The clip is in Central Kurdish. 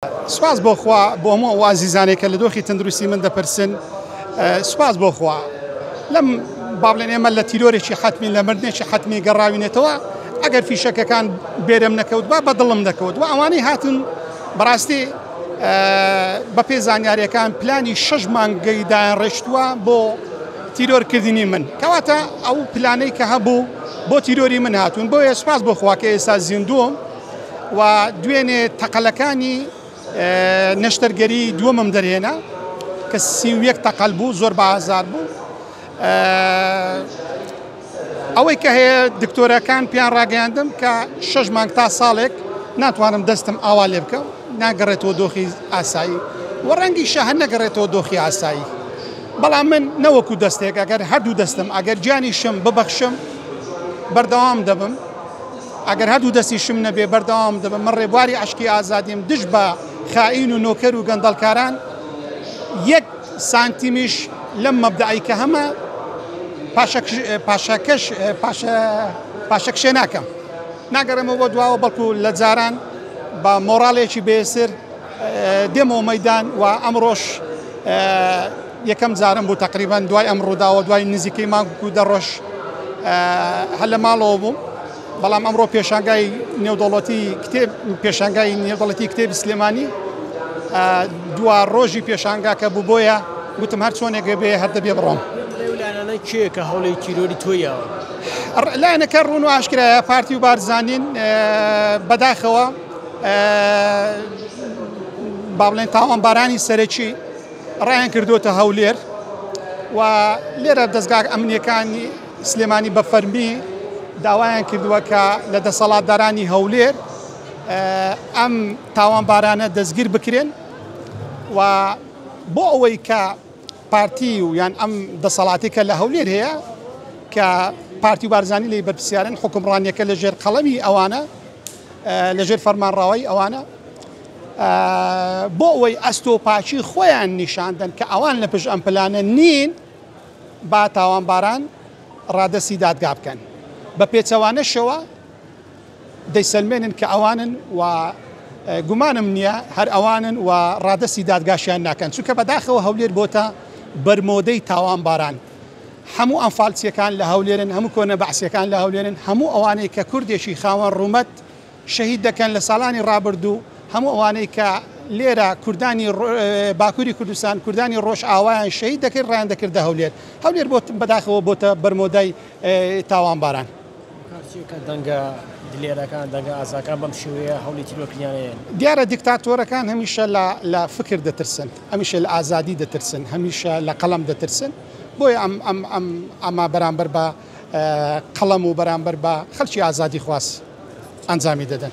سوپاس بۆ خوا بۆ هەموو ئەو ئازیزانێک کە لە دۆخی تەندروستی من دەپرسن سوپاس بۆ خوا لەم با بڵێن ئێمە لە تیرۆرێکی حتمی لە مردنێکی حتمی گەڕاوینێتەوە ئەگەر فیشەکەکان بێرم نەکەوت با بە دڵم دەکەوت و ئەوانەی هاتن بەڕاستی بە پێ زانیارەکان پلانی شش مانگەی دایان ڕێشتووە بۆ تیرۆرکردنی من کەواتە ئەو پلانەی کە هەبوو بۆ تیرۆری من هاتوون بۆیە سپاس بۆ خواکە ئێستا زیندووم و دوێنێ تەقەلەکانی نەشتەرگەری دووەمم دەرهێنا کە سی و یەک تەقەل بوو زۆر بازار بوو ئەوەی کە هەیە دکتۆرەکان پێیان ڕاگەیاندم کە شەش مانگ تا ساڵێک ناتوانم دەستم ئاوا لێ بکەم ناگەڕێتەوە دۆخی ئاسایی و ڕەنگی شەهر نەگەڕێتەوە دۆخی ئاسایی بەڵام من نەوەکو دەستێک ئەگەر هەردوو دەستم ئەگەر گیانیشم ببەخشم بەردەوام دەبم ئەگەر هەردوو دەستیشم نەبێ بەردەوام دەبم، من ڕێبواری عەشقی ئازادیم دژ بە خائین و نۆکەر و گەندەڵکاران، یەک سانتیمیش لەم مەبدەئەی کە هەمە پاشەکشێ ناکەم، ناگەڕێمەوە بۆ دواوە، بەڵکو لە جاران بە مۆڕاڵێکی بێسر، دێمەوە مەیدان و ئەمڕۆش یەکەم جارم بوو تقریبان دوای ئەم ڕووداوە دوای نزیکەی مانگ و دەڕۆژ هەر لە ماڵەوە بووم بەڵام ئەمڕۆ پێشانگای نێودەوڵەتی کتێب پێشانگای نێودەڵەتی کتێبی سلێمانی دوا ڕۆژی پێشانگاکە بوو بۆیە گوتم هەر چۆنێکێ بێ هەردە بێ بڕۆم کێ کە هەوڵی تیرۆری تۆیەوە لایەنەکە ڕوون و ئاشکرایە پارتی و بارزانین بەداخەوە با بڵێن تاوانبارانی سەرەکی ڕایان کردوتە هەولێر و لێرە دەستگا ئەمنیەکانی سلێمانی بە فەرمی داوایان کردووە کە لە دەسەڵاتدارانی هەولێر ئەم تاوانبارانە دەستگیر بکرێن و بۆ ئەوەی کە پارتی و یان ئەم دەسەڵاتێکە لە هەولێر هەیە کە پارتی و بارزانانی لی بەرپسیارن حکومڕانیەکە لە ژێر قەڵەمی ئەوانە لە ژێر فەرمانڕاوایی ئەوانە بۆ ئەوەی ئەستۆپاچی خۆیان نیشاندن کە ئەوان لە پشت ئەم پلانە نین با تاوانباران ڕادەستی دادگا بکەن بە پێچەوانەشەوە دەیسەلمێنن کە ئەوانن و گومانم نییە هەر ئەوانن و ڕادستی دادگاشیان ناکەن چونکە بەداخەوە هەولێر بۆتە بەرمۆدەی تاوانباران هەموو ئەنفالچیەکان لە هەولێرن، هەموو کۆنە بەعسیەکان لە هەولێرن، هەموو ئەوانەی کە کوردێکی خاوەن ڕوومەت شەهید دەکەن لە ساڵانی ڕابردوو، هەموو ئەوانەی کە لێرە کوردانی باکوری کوردستان، کوردانی ڕۆژئاوایان شەهید دەکرد ڕایان دەکردە هەولێر. هەولێر بەداخەوە بۆتە بەرمۆدای تاوانباران. کارچیەکان، دەنگە دلێرەکان، دەنگە ئازاکان بەم شێوەیە هەولی تیرۆرکردنیان ئەیەن. دیارە دیکتاتۆرەکان هەمیشە لە فکر دەترسن، هەمیشە لە ئازادی دەترسن، هەمیشە لە قەڵەم دەترسن. بۆیە ئەم ئەم ئەم ئەمە بەرامبەر بە قەڵەم و بەرامبەر بە خەلکی ئازادیخواز ئەنجامی دەدەن.